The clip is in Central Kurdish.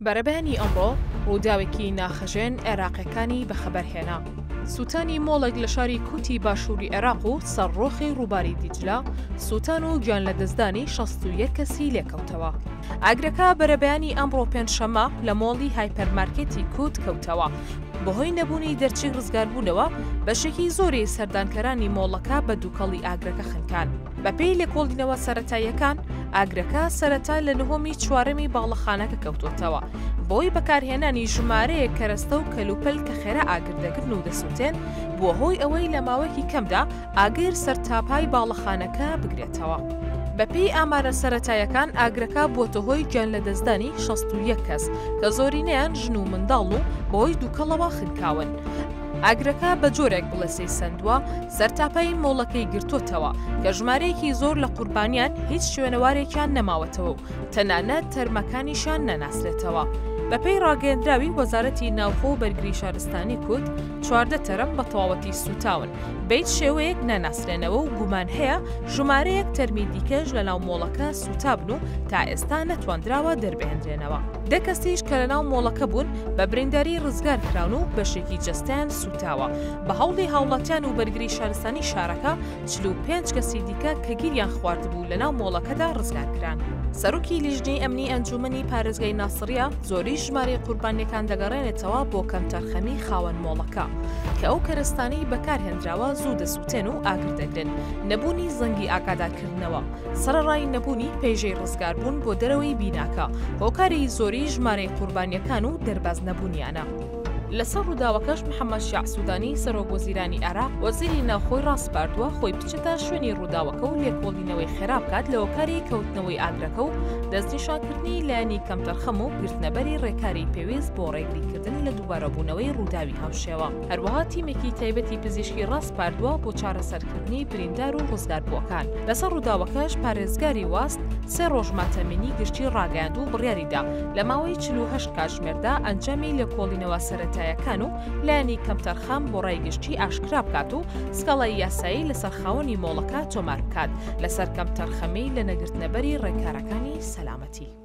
بەرەبەیانی ئەمڕۆ ڕووداوێکی ناخهەژێن عێراقییەکانی بەخەبەرهێنا. سووتانی مۆڵێک لە شاری کوتی باشووری عێراق و سەرڕۆخی ڕووباری دیجلە، سووتان و گیانلەدەستدانی شەست و یەک کەسی لێکەوتەوە. ئاگرەکە بەرەبەیانی ئەمڕۆ پێنجشەممە لە مۆڵی هایپەرمارکێتی کوت کەوتەوە، بەهۆی نەبوونی دەرچەی ڕزگاربوونەوە، بەشێکی زۆری سەردانکەرانی مۆڵەکە بە دووکەڵی ئاگرەکە خنکان. بەپێی لێکۆڵینەوە سەرەتاییەکان، ئاگرەکە سەرەتا لە نهۆمی چوارەمی باڵەخانەکە کەوتوتەوە، بەوەی بەکارهێنانی ژمارەیەک کەرەستە و کەلوپەل کە خێرا ئاگر دەگرن و دەسوتێن، بووە هۆی ئەوەی لە ماوەیەکی کەمدا ئاگر سەرتاپای باڵەخانەکە بگرێتەوە. بەپێی ئامارە سەرەتاییەکان، ئاگرەکە بووەتە هۆی گیانلەدەستدانی شەست و یەک کەس، کە زۆرینەیان ژن و منداڵن و بەهۆی دووکەڵەوە خنکاون. ئاگرەکە بە جۆرێک بڵێسەی سەندووە، سەرتاپای مۆڵەکەی گرتۆتەوە، کە ژمارەیەکی زۆر لە قوربانیان هیچ شوێنەوارێکیان نەماوەتەوە و تەنانەت تەرمەکانیشیان نەناسرێتەوە. بەپێی ڕاگەیەندراوی وەزارەتی ناوخۆ و بەرگری شارستانی کوت، چواردە تەرم بە تەواوەتی سووتاون، بە هیچ شێوەیەک ناناسرێنەوە و گومان هەیە ژمارەیەک تەرمی دیکەش لەناو مۆڵەکە سووتابن و تا ئێستا نەتواندراوە دەربهێندرێنەوە. دە کەسیش کە لەناو مۆڵەکە بوون، بە برینداری ڕزگار کراون و بەشێکی جەستەیان سووتاوە. بە هەوڵی هاوڵاتیان و بەرگری شارستانی شارەکە، چل و پێنج کەسی دیکە کە گیریان خواردبوو لەناو مۆڵەکەدا ڕزگار کران. سەرۆکی لیژنەی ئەمنی ئەنجوومەنی پارێزگای ناسڕیە، زۆریی ژمارەی قوربانییەکان دەگەڕێنێتەوە بۆ کەمتەرخەمیی خاوەن مۆڵەکە، کە ئەو کەرەستانەی بەکارهێنراوە زوو دەسووتێن و ئاگر دەگرن، نەبوونی زەنگی ئاگادارکردنەوە، سەرەڕای نەبوونی پەیژەی ڕزگاربوون بۆ دەرەوەی بیناکە، هۆکاری زۆری ژمارەی قوربانییەکان و دەرباز نەبوونیانە. لەسەر ڕووداوەکەش محەممەد شیاع سوودانی، سەرۆکوەزیرانی عێراق وەزیری ناوخۆی ڕاسپاردووە خۆی بچێتە شوێنی ڕووداوەکە و لێکۆڵینەوەی خێرا بکات لە هۆکاری کەوتنەوەی ئاگرەکە و دەستنیشانکردنی لایەنی کەمتەرخەم و گرتنەبەری ڕێکاری پێویست بۆ ڕێگریکردن لە دووبارەبوونەوەی ڕووداوی هاوشێوە. هەروەها تیمێکی تایبەتی پزیشکی ڕاسپاردووە بۆ چارەسەرکردنی بریندار و ڕزگاربووەکان لەسەر ڕووداوەکەش پارێزگاری واست سێ ڕۆژ ماتەمینی گشتی ڕاگەیاند و بڕیاریدا لە ماوەی 48 کاتژمێردا ئەنجامی لێکۆڵینەوە سەرەتایەکان و لایەنی کەمتەرخەم بۆ ڕای گشتی ئاشکرا بکات و سکاڵای یاسایی لەسەر خاوەنی مۆڵەکە تۆمار بکات لەسەر کەمتەرخەمی لە نەگرتنەبەری ڕێکارەکانی سەلامەتی.